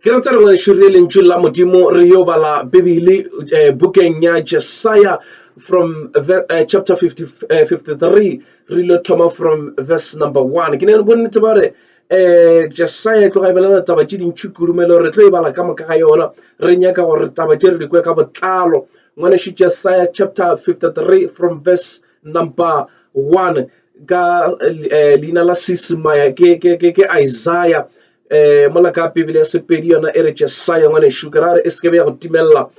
ke ratsa re ngwešo re lentšu la modimo re yo bala bibele eh, bukeng ya jesaya from the, uh, chapter 50, uh, 53 re lo thoma from verse number 1 ke ne re bonnete ba re um jesaya e tloga e belela taba tše dintšhi kudumelo re tlo e bala ka moka ga yona re nyaka gore taba tše re di kwe ka botlalo ngwaneši jesaya chapter 53 from verse number 1 ka leina la seesemaya ke isaiah um mola ka pebele ya sepedi yona e re jesaya ngwanešu ke ra gore e se kebe ya go timelela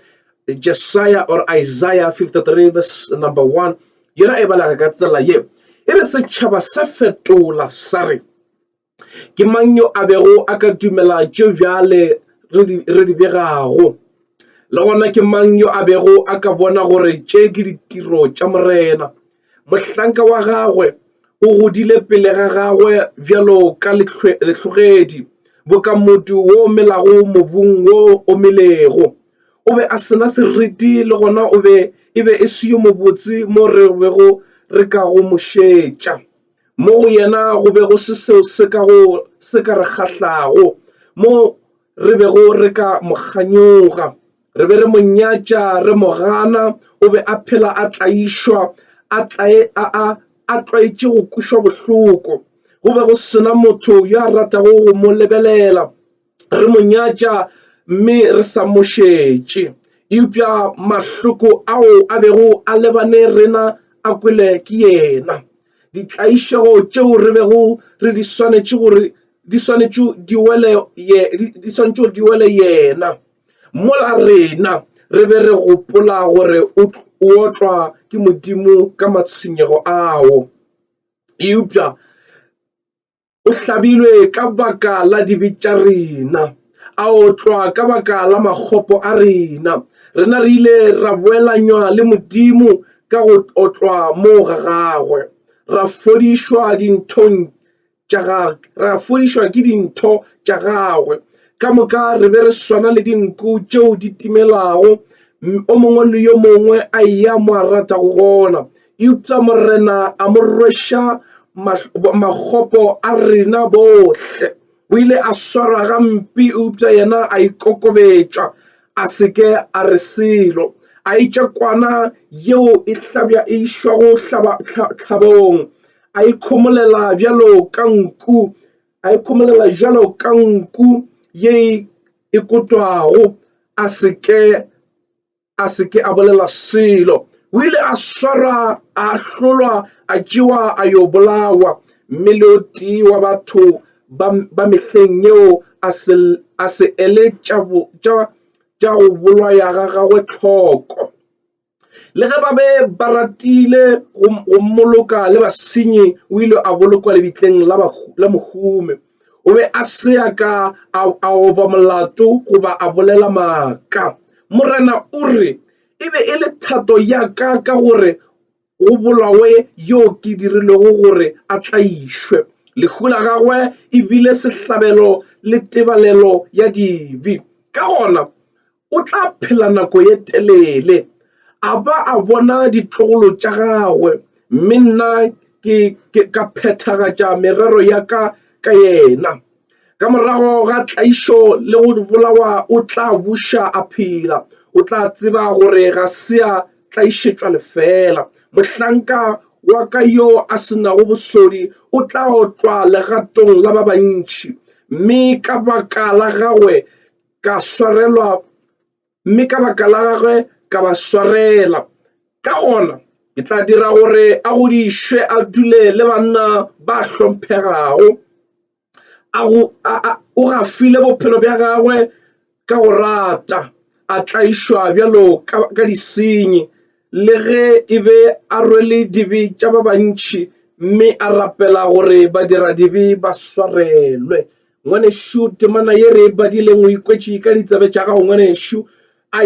jesaya or isaiah 53 verse number 1 yona e balega ka tsela ye e re setšhaba sa fetola sa re Ke mang yo a bego a ka dumela tše bjale re di begago? Le gona ke mang yo a bego a ka bona gore tše ke ditiro tša Morena? Mohlanka wa gagwe o godile pele ga gagwe bjalo ka lehlogedi, boka modu wo o melago mobung wo o omilego. O be a se na seriti le gona e be e se yo mobotse mo re bego re ka go mo šetša. Mo go yena go be go se seo se ka go se ka re kgahlago, mo re bego re ka mo kganyoga. Re be re mo nyatša, re mo gana. O be a phela a tlaišwa, a tlae, a, a, a tlwaetše go kwešwa bohloko. Go be go se na motho yo a ratago go mo lebelela. re mo nyatša mme re sa mo šetše. Eupša mahloko ao a bego a lebane rena a kwele ke yena. Ditlaišego tšeo re bego re di swanetše gore di swanetše di wele ye di swanetše gore di wele yena. Mola rena re be re gopola gore o otlwa ke Modimo ka matshwenyego ao. Eupša O hlabilwe ka baka la dibe tša rena, a otlwa ka baka la makgopo a rena. Rena re ile ra boelanywa le Modimo ka go otlwa moo ga gagwe, ra fodišwa dinthong tša gagwe, ra fodišwa ke dintho tša gagwe. Ka moka re be re swana le dinku tšeo di timelago, o mongwe le yo mongwe a eya mo a ratago gona. Eupša Morena a mo rweša makgopo a rena bohle. O ile a swarwa gampe eupša yena a ikokobetša, a se ke a re selo. A etša kwana yeo e hlabja e išwago tlhabong, a ikhomolela bjalo ka nku, a ikhomolela bjalo ka nku ye e kotwago, a se ke a se ke a bolela selo o ile a swarwa a hlolwa a tšewa a yo bolawa mme le o tee wa batho ba mehleng yeo a se ele tša go bolwaya ga gagwe tlhoko le ge ba be ba ratile go mmoloka le basenyi o ile a bolokwa lebitleng la mohume o be a se a ka a a oba molato goba a bolela maaka morena o re e be e le thato ya ka ka gore go bolawe yo ke dirilego gore a tlaišwe lehu la gagwe e bile sehlabelo le tebalelo ya dibe ka gona o tla phela nako ye telele a ba a bona ditlogolo tša gagwe mme nna ke, ke ka phethagatša merero ya ka ka yena. Ka morago ga tlaišo le go bolawa o tla buša a phela. O tla tseba gore ga se a tlaišetšwa lefela. Mohlanka wa ka yo a se nago bosodi o tla otlwa legatong la ba bantši, mme ka baka la gagwe ka swarelwa mme ka baka la gagwe ka ba swarela ka gona ke tla dira gore a godišwe a dule le banna ba hlomphegago o gafile bophelo bja gagwe ka go rata a tlaišwa bjalo ka disenyi le ge e be a rwele dibe tša ba bantšhi mme a rapela gore badira dibe ba swarelwe Ngwanešu, temana ye re e badileng o ikwetše ka ditsebe tša gago, ngwanešu.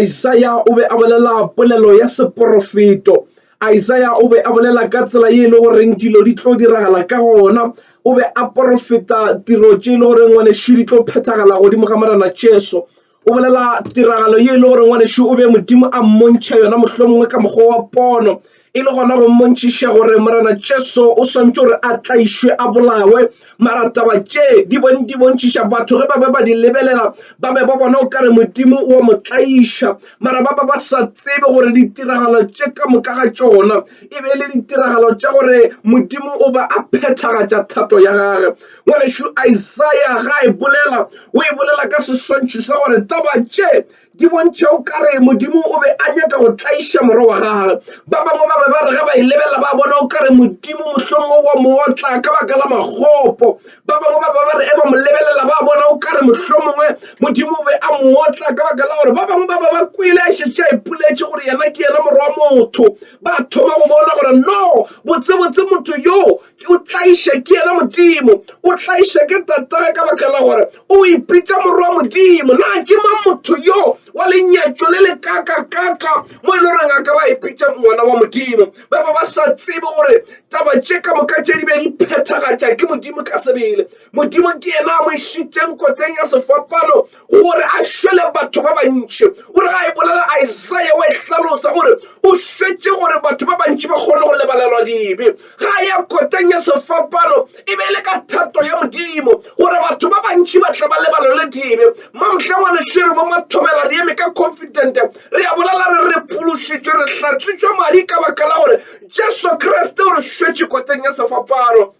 Isaya o be a bolela polelo ya seporofeto. Isaya o be a bolela ka tsela ye e le goreng dilo di tlo diragala ka gona. O be a porofeta tiro tše e le goreng ngwanešu di tlo phethagala godimo ga Morena Jesu. o bolela tiragalo ye e le gore ngwanešu o be modimo a mmontšha yona mohlomongwe ka mokgwa wa pono e le gona go mmontšhiša gore morena jesu o swantse gore a tlaišwe a bolawe mara taba tše di di bontšhiša batho ge ba be ba di lebelela ba be ba bona o kare modimo wa mo tlaiša mara ba ba ba sa tsebe gore ditiragalo tše ka moka ga tšona e be e le ditiragalo tša gore modimo o ba a phethagatša thato ya gage Ngwanešu, Isaya ga a e bolela, o e bolela ka seswantšho sa gore taba tše di bontšha o ka re Modimo o be a nyaka go tlaiša Morwa wa gagwe. Ba bangwe ba be ba re ge ba e lebelela ba bona o ka re Modimo mohlomongwe o a mo otla ka baka la makgopo. Ba bangwe ba be ba re ge ba mo lebelela ba bona o ka re mohlomongwe Modimo o be a mo otla ka baka la gore ba bangwe ba be ba kwele a šetše a ipoletše gore yena ke yena Morwa wa motho. Ba thoma go bona gore no, botsebotse motho yo o tlaiše ke yena modimo o tlaiše ke tatage ka baka la gore o ipitša morwa wa modimo na ke mang motho yo wa lenyatšo le le kakakaka mo e le goreng a ka ba ipitša ngwana wa modimo ba ba ba sa tsebe gore taba tše ka moka tše di be di phethagatša ke modimo ka sebele modimo ke yena a mo išitšeng kotseng ya sefapano gore a šwele batho ba bantši gore ga e bolela Isaiah wa e hlalosa gore o šwetše gore batho ba bantši ba kgone go lebalelwa dibe ga ya koteng ya sefapano e be e le ka thato ya modimo gore batho ba bantši ba tla ba lebalelwe dibe mamhla wa lešwere bo mathobela re eme ka confident re a bolela re re phološitšwe re hlatswitšwe madi ka baka la gore jesu kriste o re šwetše koteng ya sefapano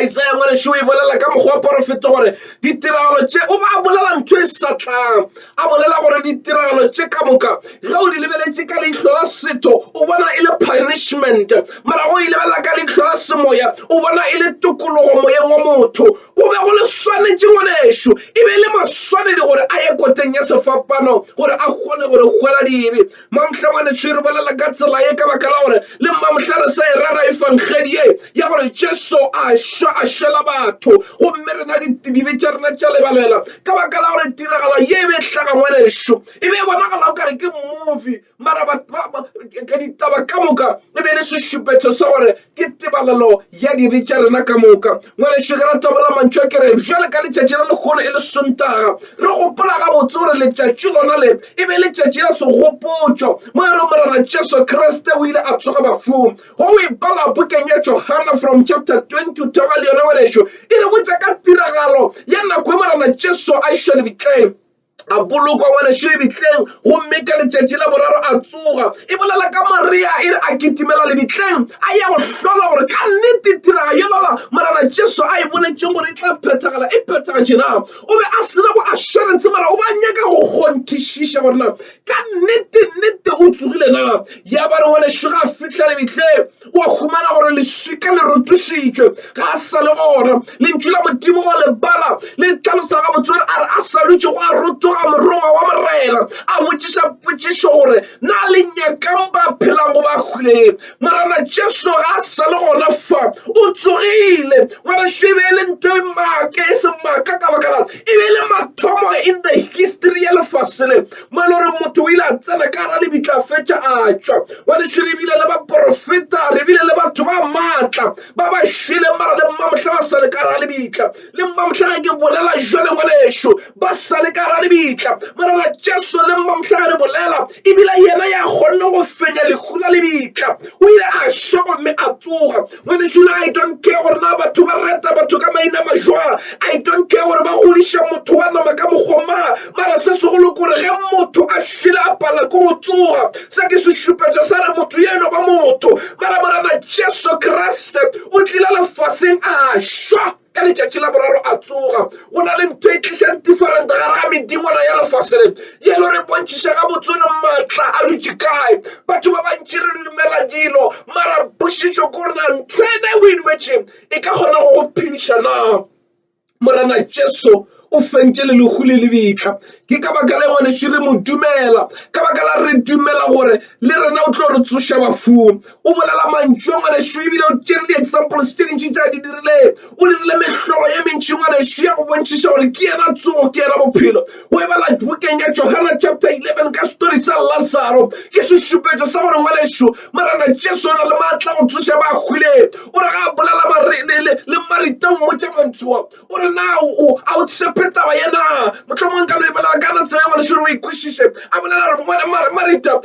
Isaya ngwanešu o e bolela ka mokgwa wa porofeto gore ditiragalo tše o ba a bolela ntho e sa tlang a bolela gore ditiragalo tše ka moka ge o di lebeletše ka leihlo la setho o bona e le punishment mara o e lebelela ka leihlo la semoya o bona e le tokologo moyeng wa motho go be go le swanetše ngwanešu e be e le maswanedi gore a ye koteng ya sefapano gore a kgone gore kgwela dibe Mamohla ngwanešu re bolela ka tsela ye ka baka la gore le mamohla re sa e rera efangedi ye ya gore Jesu a šwa a šwela batho gomme rena dibe tša rena tša lebalela ka baka la gore tiragalo ye e be e hlaga ngwanešu e be e bonagala o kare ke movie mara ka ditaba ka moka e be e le sešupetšo sa gore Ke tebalelo ya dibe tša rena ka moka. Ngwanešu, ge ra tabola mantšu a ke re, bjale ka letšatši la lekgolo e le Sontaga, re gopola gabotse gore letšatši lona le e be letšatši la segopotšo, mo e re Morena Jesu Kriste o ile a tsoga bafung. Go o e bala bukeng ya Johana from chapter 20 o theoga le yona, ngwanešu, e re botša ka tiragalo ya nako e Morena Jesu a išwa lebitleng. a bolokwa ngwanešu lebitleng gomme ka letšatši la boraro a tsoga e bolela ka maria e re a kitimela lebitleng a ya go hlola gore ka nnete tiraga yolala morana jesu a e boletšeng gore e tla phethagala e phethagatše na o be a sena go assurance mara o ba nyaka go kgonthišiša gore na ka nnete nnete o tsogile na ya ba re ngwanešu ga a fitlha lebitleng wa humana gore leswika le rotošitšwe ga a sa le gona lentšu la modimo wa lebala le tlhalosa ga botswere a re a sa lutše go a rotoga morongwa wa morena a botšiša potšišo gore na le nyakang ba phelang go ba hwileng morena jesu ga a sa le gona fa o tsogile ngwanašo e be e le ntho e maaka e se maaka ka baka la e be e le mathomo in the history ya lefase le mo e le gore motho o ile a tsena ka gara lebitla fetša a tšwa bane še re bile le baporofeta re bile le batho ba maatla ba ba šweleng mara le mmamohla ba sa le ka gara lebitla le mmamohla ga ke bolela jwale ngwaneso ba sa le ka gara lebitla morena jesu le mmamohla ga re bolela ebile yena ya kgonne go fenya lehu la lebitla o ile a šwa gomme a tsoga Ngwanešu I don't care gore na batho ba reta batho ka maina majwa I don't care gore ba godiša motho wa nama ka mokgoma mara se segolo kore ge motho a šile a pala ko go tsoga se ke sešupetšo sa re motho ye eno ba motho mara morena Jesu Kriste o tlile lefaseng a šwa Ka letšatši la boraro a tsoga. Go na le ntho e tlišang different gare ga medingwana ya lefase le ye lo re bontšhiša ga botsore maatla a dutše kae. Batho ba bantši re dumela dilo mara pošišo ko rena ntho ena e o e dumetšeng e ka kgona go go phediša na? Morena Jesu o fentše le lehu le lebitla ke ka baka la ngwanešu re mo dumela ka baka la re dumela gore le rena o tlo re tsoša bafung o bolela mantšu a ngwanešu ebile o tšere di-examples tše dintši tša di dirileng o dirile mehlolo ye mentši ngwanešu ya go bontšhiša gore ke yena tsogo ke yena bophelo o e bala bokeng ya johana chapter 11 ka story sa lazaro ke sešupetšo sa gore ngwanešu morena jesu o na le maatla go tsoša ba hwileng o re ga a bolela le marita o mmotša mantšua o re na o a o tshepe taba ye na mohlomongwe ka no e bolela ka na tsela engwe lesolo o e kwešiše a bolela re mone mare marita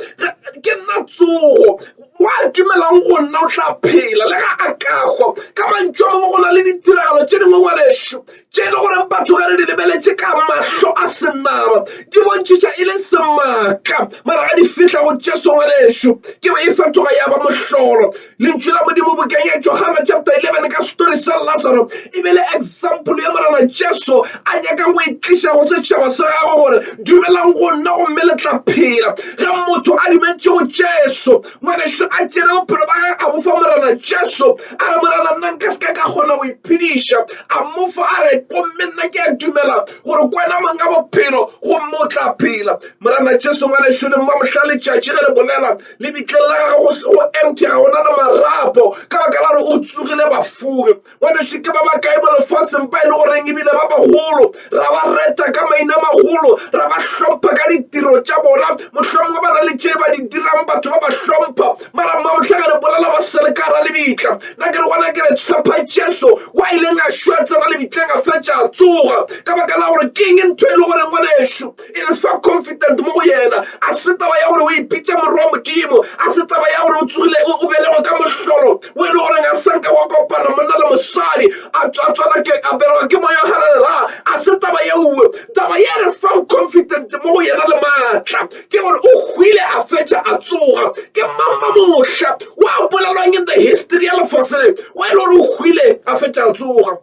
ke nna tsogo wa dumelang go nna o tla phela le ga a kagwa ka mantšu a mangwe go na le ditiragalo tše dingwe ngwanešu tše e le gore batho ge re di lebeletše ka mahlo a senaba di bontšhitša e le semaka mara ga di fihla go jesu ngwanešu ke be e fetoga ya ba mohlolo Lentšu la Modimo bokeng Johana chapter 11 ka story sa Lazaro e be le example ya Morena Jesu a nyakang go itliša go setšhaba sa gagwe gore dumelang go nna gomme le tla phela. Ge motho a dumetše go Jesu, ngwanešu a tšere bophelo ba gagwe a bofa Morena Jesu, a re, Morena, nna nka se ka ka kgona go iphediša. A mofa a re, Gomme nna ke a dumela gore ke wena mong ka bophelo gomme o tla phela. Morena Jesu, ngwanešu, le mma mohla letšatši ge le bolela Lebitleng la gagwe go se go empty ga ona le marapo ka baka la gore o tsogile bafure ngwaneso ke ba bakae mo lefaseng ba e le goreng ebile ba bagolo ra ba reta ka maina magolo ra ba hlompha ka ditiro tša bona mohlomongwe ba na le tše ba di dirang batho ba ba hlompha mara mma mohlaga re bolela ba sele ka ra lebitla na ke re gona ke re tshepha jesu wa ileng a šwa tsena lebitleng a fetša a tsoga ka baka la gore keng ntho e le goreng ngwaneso e re fa confident mo go yena a se taba ya gore o ipitša morwa wa modimo a se taba ya gore o tsogile o belegwe ka mohlolo o e le gore ga sanka wa kopana monna le mosadi a tswatswana ke a belegwa ke moya galelela a se taba yeuwe taba ye re fang confident mo go yena le maatla ke gore o hwile a fetša a tsoga ke mamma mohla wa bolelwang in the history ya lefaseng wa e le gore o hwile a fetša a tsoga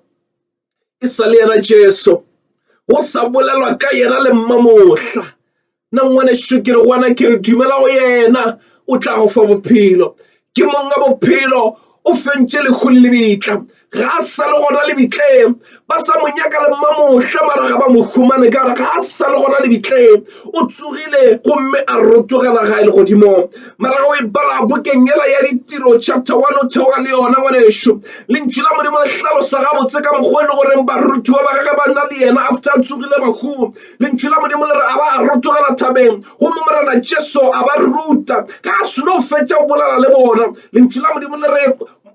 e sa le yena jesu go sa bolelwa ka yena le mmamohla nna ngwanešu ke re gona ke re dumela go yena o tla go fa bophelo ke monga bophelo o fentše lekgo le lebitla ga a sa le gona lebitleng ba sa mo nyaka le mmamohla mara ga ba mo humane ka gore ga a sa le gona lebitleng o tsogile gomme a rotogela ga e le godimong mara o e bala bokeng yela ya ditiro chapter 1 o theoga le yona ngwanešu lentšu la modimo le hlalosa gabotse ka mokgwa e le goreng barutiwa ba gage ba na le yena after a tsogile bahu lentšu la modimo le re a ba a rotogela thabeng gomme morena jesu a ba ruta ga a seno fetša o bolala le bona lentšu la modimo le re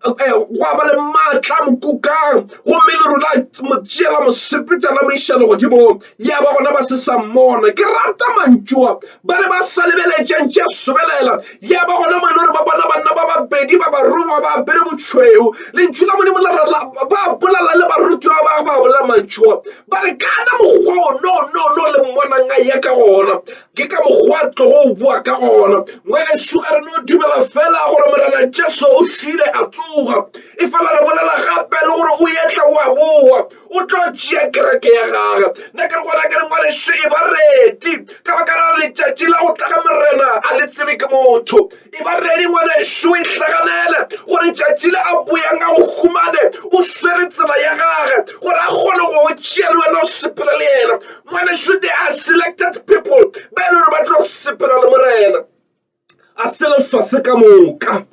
eh, gwa ba le maatla mokukang gomme le rona mo tšeela mosepetsa la moišelo godimong ya ba gona ba se sa mmona ke rata mantšoa ba re ba sa lebeletšeng tše sobelela ya ba gona mo e le gore ba bona banna ba babedi ba barongwa ba apere botšhweu lentšu la modimo lerala ba bolala le barutiwa ba ba bolela mantšoa ba re kana mokgwa o no no no le mmonang a ya ka gona ke ka mokgwa tlogo o boa ka gona ngwanešu a re no dumela fela gore morena jesu o šwile a tsoga e fela re bolela gape le gore o etla o a boa o tlo tšea kereke ya gage nna ke re gona ke re ngwanešu e ba reti ka baka la letšatši la go tla ga morena a le tsebe ke motho e ba redi ngwanešu o e hlaganele gore tšatši le a boyang a o humane o swere tsela ya gage gore a kgone go o tšea le wena o sepela le yena ngwanešu they are selected people ba e le gore ba tlo sepela le morena a se lefase ka moka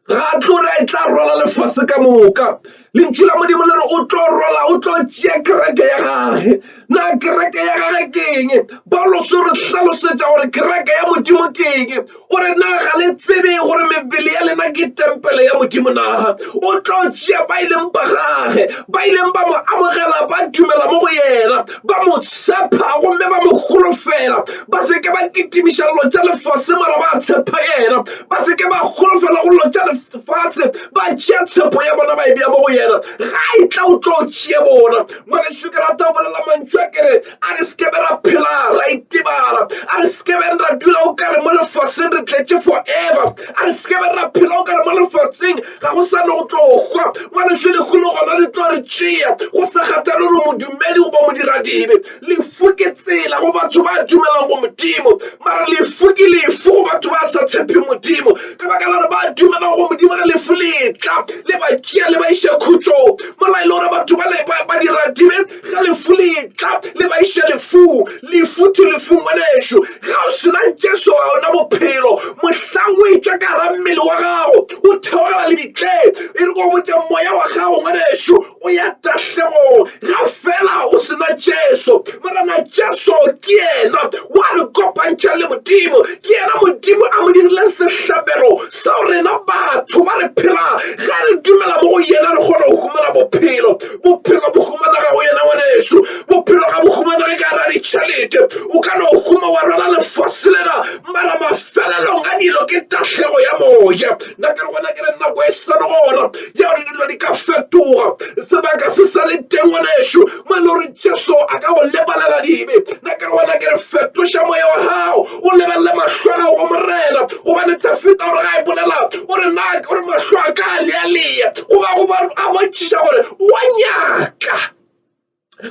ga tlo re e tla rwala lefase ka moka Lentšu la Modimo le re o tlo rola, o tlo tšea kereke ya gage. Na kereke ya gage keng? Paulos o re hlalosetša gore kereke ya Modimo keng. O re na ga le tsebe gore mebele ya lena ke tempele ya Modimo na? O tlo tšea ba ileng ba gage, ba ileng ba mo amogela, ba dumela mo go yena, ba mo tshepa gomme ba mo holofela. Ba se ke ba kitimiša llo tša lefase mara ba tshepa yena, ba se ke ba holofela go llo tša lefase. fase ba tšea tshepo ya bona ba e bea mo go yena ga e tla o tlo tšee bona ngwaneso ke rata o bolela mantšu a kere a re sekebe ra phela ra itebala a re sekebeng ra dula o kare mo lefaseng re tletše forever a re sekebe ra phela o kare mo lefatsheng ga go sane go tlo hwa ngwaneso dikgolo gona di tlo re tšea go sa kgathale gore modumedi goba modiradibe Lefu ke tsela go batho ba dumelang go modimo mara lefu ke lefu go batho ba sa tshephe modimo ka baka la gore ba dumelang go modimo ge lefu letla le ba tšea le ba iše khutšong mola e le gore batho ba dira dibe ge lefu letla le ba iše lefung lefu to lefung ngwanešu ga o sena jesu ga ona bophelo mohlang o etšwa ka gara mmele wa gago o theogela lebitleng e re ko botse moya wa gago ngwanešu o ya tahlegong ga fela o sena jesu morena jesu ke yena wa re kopantšha le modimo ke yena modimo a mo dirileng sehlabelo seo rena batho ba re phela ge re dumela mo go yena re kgona go humana bophelo bophelo bo humanega go yena ngwaneso bophelo ga bo humanege ka ra ditšhelete o ka no huma wa rwala lefase lena mara mafelelong a dilo ke tahlego ya moya nna ke re gona ke re nako e seno gona ya gore dilo di ka fetoga sebaka se sa le teng wa nešo mo e le gore jesu a ka go lebalela dibe na ke re wena ke re fetoša moya wa gago o lebelele mahlo a gago go morena gobane tafita gore ga e bolela o re na ke gore mahlo a ka a lealea goba a bontšhiša gore o a nyaka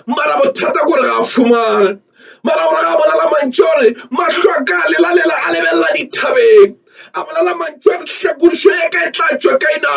mara bothata gore ga a fumane mara gore ga a bolela mantši gore mahlo a ka a lelalela a lebelela dithabeng a bolela mantši gore hlakodišo ya ka e tla tšwa ka ena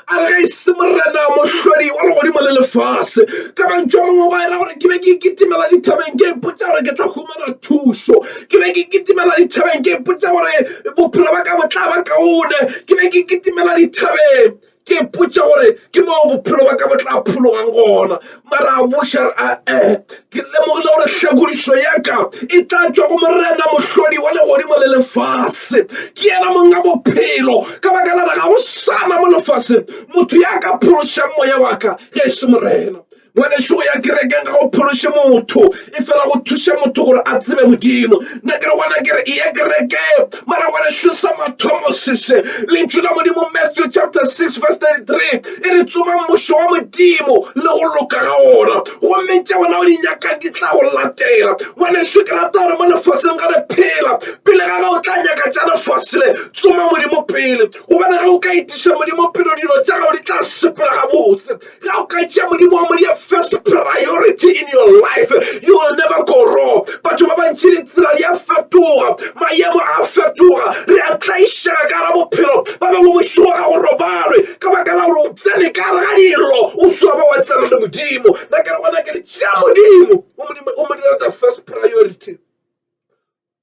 a re ga e se morena mohlodi wa legodimo le lefase ka mantši a mongwe ba era gore ke be ke ikitimela dithabeng ke ipotsa gore ke tla humana thušo ke be ke ikitimela dithabeng ke ipotsa gore bophelo ba ka bo tla ba kaone ke be ke ikitimela dithabeng ke ipotša gore ke mo bophelo ba ka bo tla phologang gona mara a buša re a-e eh, eh, ke lemogile gore hlakodišo ya ka e tla tšwa go morena mohlodi wa legodimo le lefase ke yena monga bophelo ka baka la re ga go sana mo lefaseng motho ya ka phološang moya wa ka ge e se morena ngwanešu go ya kerekeng ga go phološe motho e fela go thuše motho gore a tsebe modimo nna ke re gona kere e ye kereke mara ngwanešu sa mathomo sese lentšu la modimo matthew chapter 6 verse 33 e re tsoma mmušo wa modimo le go loka ga ona gomme tša bona o di nyakang di tla go latela ngwanešu ke rata gore mo lefaseng ga re phela pele ga ge o tla nyaka tša lefase le tsoma modimo pele gobane ge o ka itiša modimo pele dilo tša gago di tla sepela gabotse ga o ka tšea modimo wa modia first priority in your life you will never go wrong batho ba bantši ditsela di a fetoga maemo a fetoga re a tlaišega ka ra bophelo ba bangwe bošego ga go robalwe ka baka la gore o tsene ka re ga dilo o swa ba wa tsena le modimo na ke re gona ke re tšea modimo o modimo o modimo the first priority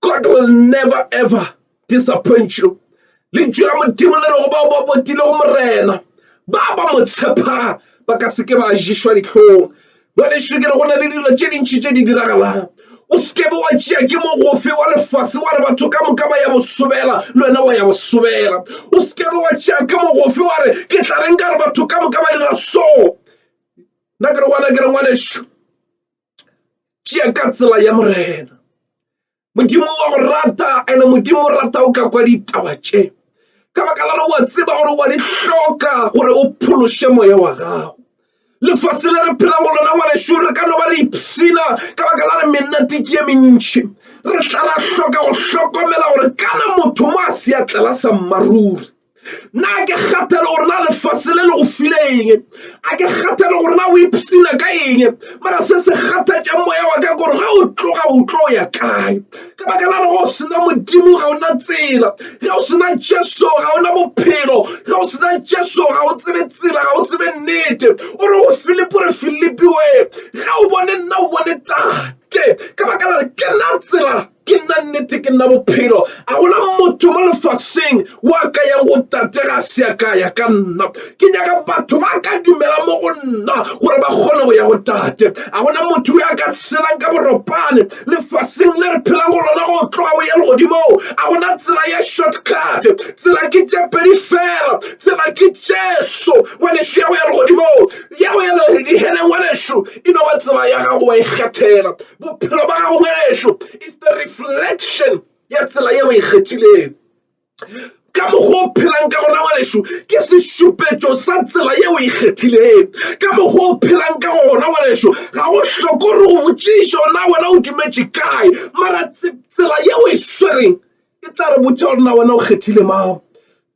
God will never ever disappoint you. Lentšu la Modimo le rego bao ba botile go Morena ba ba mo tshepha ba ka seke ba ješwa dihlong. Bjale šo ke re go na le dilo tše dintši tše di diragalang. O seke be wa tšea ke mogofe wa lefase wa re batho ka moka ba ya bosobela le wena wa ya bosobela. O seke be wa tšea ke mogofe wa re ke tla reng ka re batho ka moka ba dira so. Nna ke re gona ke re ngwanešu tšea ka tsela ya morena modimo wa go rata ene modimo o rata o ka kwa ditaba tše ka baka la gore wa tseba gore wa di hloka gore o phološe moya wa gago lefase le re phelang go lona ngwanešu re ka no ba re ipshina ka baka la re mennete ke ye mentšhi re tla ra hloka go hlokomela gore kana motho mo a seatlela sa mmaruri na ke kgathele gore na lefase le le go file eng a ke kgathele gore na o ipsina ka eng mara se se kgathatša moya wa ka gore ge o tloga o tlo ya kae ka baka la go sena modimo ga ona tsela ge o sena jesu ga ona bophelo ge o sena jesu ga o tsebe tsela ga o tsebe nnete o re go filipi o re filipi we ge o bone nna o bone tate ka baka la re ke na tsela ke nna nnete ke nna bophelo a gona motho mo lefaseng wa ka yang go tate ga se ya ka ya ka nna ke nyaka batho ba ka dumela mo go nna gore ba kgone go ya go tate a gona motho o ya ka tshelang ka boropane lefaseng le re phelang go lona go tloga o ye legodimo a gona tsela ya shortcut tsela ke tše pedi fela tsela ke jesu ngwanešu ya go ya legodimo ya go ya diheleng ngwanešu e no ba tsela ya gago wa ikgethela Bophelo ba gago ngwanešu is the reflection ya tsela yeo e kgethileng. ka mokgwa o phelang ka gona ngwanešu ke sešupetšo sa tsela yeo e kgethileng ka mokgwa o phelang ka gona ngwanešu ga go hloko gore o botšišo na wena o dumetše kae mara tsela yeo e swereng e tla re botša gore na wena o kgethile mang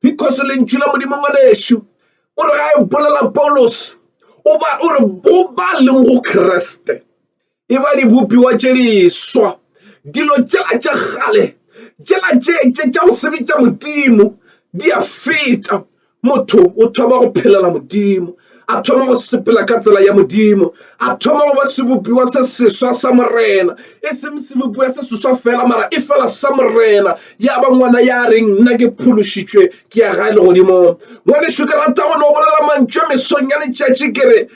because lentšu la modimo ngwanešu o re ga e bolela paulos o re go ba leng go kreste e ba dibopiwa tše diswa dilo tšela tša kgale tšela tšetše tša go sebetša modimo di a feta motho o thoma go phelela modimo a thoma go sepela ka tsela ya modimo a thoma go ba sebopiwa se seswa sa morena e seng sebopiwa se seswa fela mara e fela sa morena ya ba ngwana ya reng nna ke phološitšwe ke ya gae legodimo ngwaneso ke rata go no bolela mantšwe mesong ya letšatši kere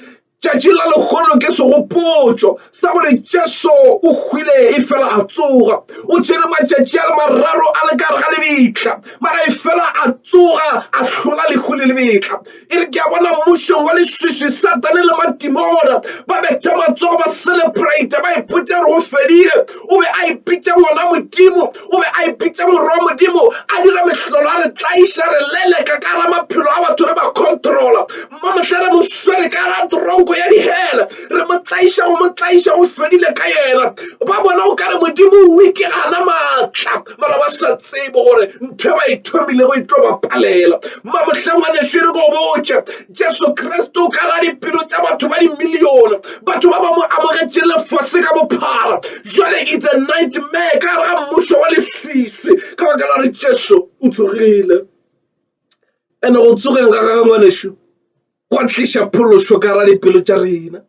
Tšatši la lekgono ke segopotšo sa gore Jesu o hwile e fela a tsoga. O tšere matšatši a le mararo a le kare ga lebitla, mara e fela a tsoga a hlola lehu le lebitla. E re ke a bona mmušong wa leswiswi Satane le madimona ba betha matsogo ba celebrate ba ipotša gore o fedile. O be a ipitša ngwana Modimo, o be a ipitša morwa Modimo, a dira mehlolo a re tlaiša re leleka ka ra maphelo a batho re ba controla. mo mohla re mo swere ka ga tronko ya dihela re mo tlaiša go mo tlaiša go fedile ka yena ba bona o ka re modimo o wike gana maatla mara ba sa tsebe gore ntho e ba e thomilego e tlo ba palela ma mohleng wa neso re go botše jesu kriste o ka ra dipelo tša batho ba dimilione batho ba ba mo amogetše lefase ka bophara jale it's a nightmare ka ra mmušo wa leswisi ka baka la re jesu o tsogile And-e go tsogeng ga gagwe ngwanešu gwa tliša phološo ka ra dipelo tša rena.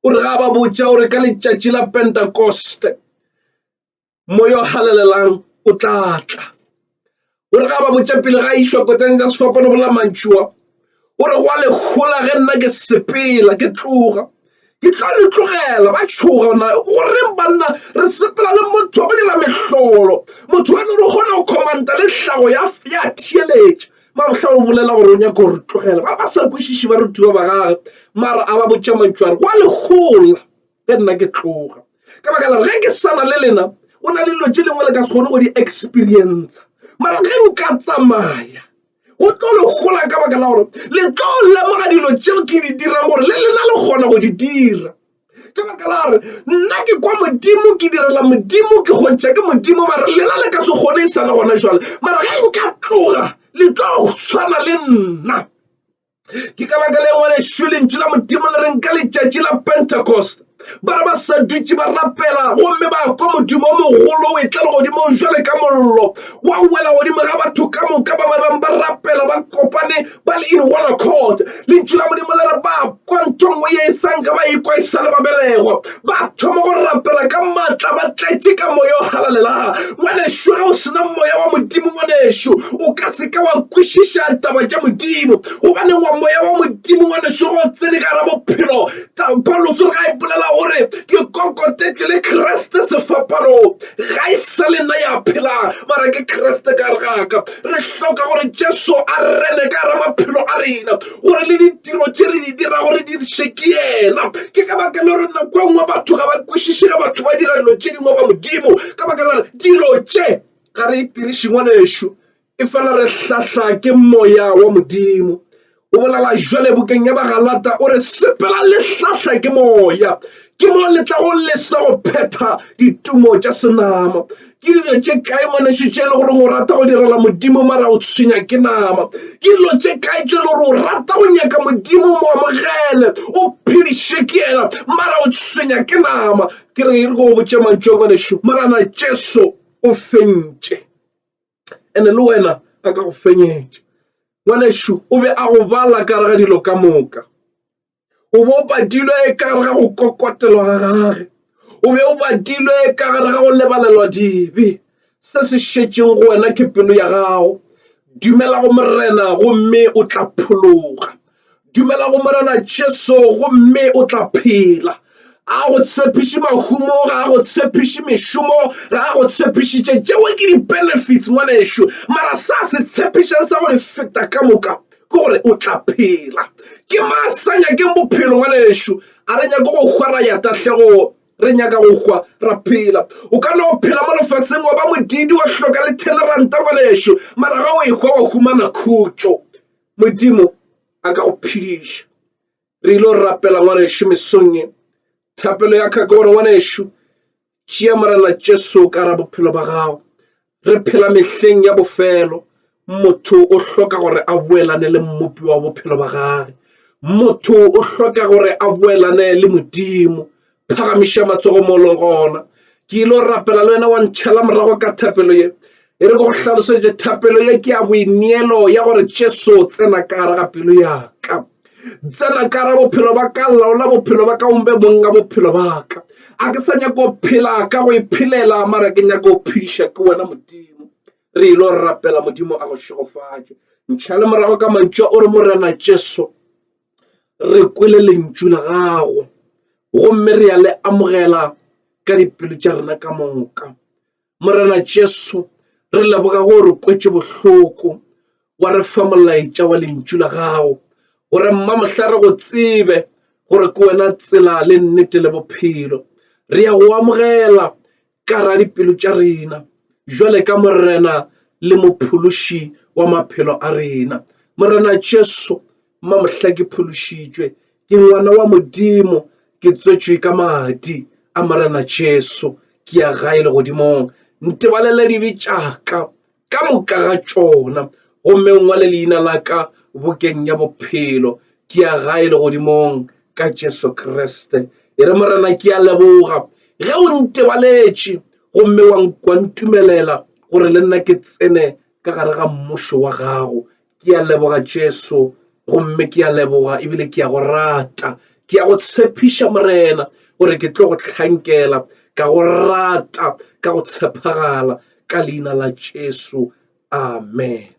O re ga ba botša o re ka letšatši la Pentakoste moya o halalelang o tla tla. O re ga ba botša pele ga išwa koteng tša sefapano go la mantšua o re gwa lehola ge nna ke sepela ke tloga ke tlo le tlogela ba tšhoga na goreng banna re sepela le motho wa go dira mehlolo motho wa lore o kgona go commanta le tlhago ya theeletša mabohla o bolela gore o nyaka gore tlogela ba ba sa kwešiše ba rutiwa ba gage mara a ba botša mantšware wa legola ge nna ke tloga ka baka la ge ke sana le lena go na le dilo tše dingwe le ka se kgone go di experienca mara ge nka tsamaya go tlo le gola ka baka la gore le tlo lemoga dilo tšeo ke di dirang gore le lena le kgona go di dira ka baka la gore nna ke kwa modimo ke direla modimo ke kgontšha ke modimo mara lena le ka se kgone e sa le gona jwale mara ge nka tloga le tlo tshwana le nna ke ka baka le ngwanešu lentšu la modimo le reng ka letšatši la pentecost ba re ba sa dutše ba rapela gomme ba kwa modimo o mogolo o etla legodimong jwale ka mollo wa wela godimo ga batho ka moka ba ba bang ba rapela ba kopane ba le in one accord lentšu la modimo le re ba kwa nthongwe ye e sanka ba e kwa e sa le babelego ba thoma go rapela ka maatla ba tletše ka moya o galalela ngwanešu ga o sena moya wa modimo ngwanešu o ka seka wa kwešiša taba tša modimo gobaneng wa moya wa modimo ngwanešu go tsene ka ra bophelo paulos re ga e bolela gore ke kokotetše le kriste sefapanong ga e sa le nna ya phelang mara ke kriste ka regaka re hloka gore jesu a rene ka ra maphelo a rena gore le ditiro tse re di dira gore di se ke yena ke ka baka le gore nako e nngwe batho ga ba kwešiše ga batho ba dira dilo tše dingwe ba modimo ka baka la gore dilo tše ga re e tiriše ngwana ešo e fela re hlahla ke moya wa modimo o bolala jwale bokeng ya bagalata o re sepela le hlahla ke moya ke mo le tla go lesa go phetha ditumo tša senama ke dilo tše kae ngwaneso tše e le goreng o rata go direla modimo mara o tshwenya ke nama ke dilo tše kae tše e le gore o rata go nyaka modimo mo amogele o phediše ke yena mara o tshwenya ke nama ke re e re go botse mantšo ngwaneso marana jesu o fentše ene le wena a ka go fenyetša ngwaneso o be a go bala ka re ga dilo ka moka o be o badilwe ka gare ga go kokotelwa ga gage o be o badilwe ka gare ga go lebalelwa dibe se se šetšeng go wena ke pelo ya gago dumela go morena gomme o tla phologa dumela go morena jesu gomme o tla phela a go tshepiše mahumo ga a go tshepiše mešomo ga a go tshepišitše tšeo ke di-benefits ngwanešu mara sa se tshepišang sa go di feta ka moka ke gore o tla phela ke ma sa nyakeng bophelo ngwanešu a re nyake go hwa ra ya tahlegong re nyaka go hwa ra phela o ka no phela mo lefaseng wa ba modidi wa hloka le teneranta ngwanešu mara ga o ehwa wa humana khutšo modimo a ka go phediša re ile go rapela ngwanešu mesong e thapelo ya kgaka gore ngwanešu Tšea Morena Jesu ka ra bophelo ba gago. Re phela mehleng ya bofelo. Motho o hloka gore a boelane le mmopi wa bophelo ba gage. Motho o hloka gore a boelane le Modimo. Phagamiša matsogo molo gona. Ke ile rapela le wena wa ntšhela morago ka thapelo ye. e re go hlalosetše thapelo ye ke ya boineelo ya gore jesu tsena ka gare ga pelo ya ka tsena ka gare bophelo ba ka laola bophelo ba ka ombe monga bophelo ba ka a ke sa nyako phela ka go iphelela mara ke nyako phediša ke wena modimo re ile go rapela modimo a go šegofatše ntšha le morago ka mantšwa o re morena jesu re kwele lentšu la gago gomme re ya le amogela ka dipelo tša rena ka moka Morena Jesu, re leboga go re kwetše bohloko wa re fa molaetša wa lentšu la gago gore mma mohla re go tsebe gore ke wena tsela le nnete le bophelo re ya go amogela ka ra dipelo tša rena jwale ka morena le mophološi wa maphelo a rena morena Jesu Mma mohla ke phološitšwe, ke ngwana wa Modimo, ke tswetšwe ka madi a Morena Jesu, ke ya gae legodimong. Ntebalela dibe tšaka ka moka ga tšona, gomme ngwale leina la ka bokeng ya bophelo. Ke ya gae legodimong ka Jesu Kriste. E re, Morena, ke a leboga ge o ntebaletše gomme wa ntumelela gore le nna ke tsene ka gare ga mmušo wa gago. ke a leboga jesu gomme ke a leboga ebile ke a go rata ke a go tshepiša morena gore ke tlo go tlhankela ka go rata ka go tshepagala ka leina la jesu amen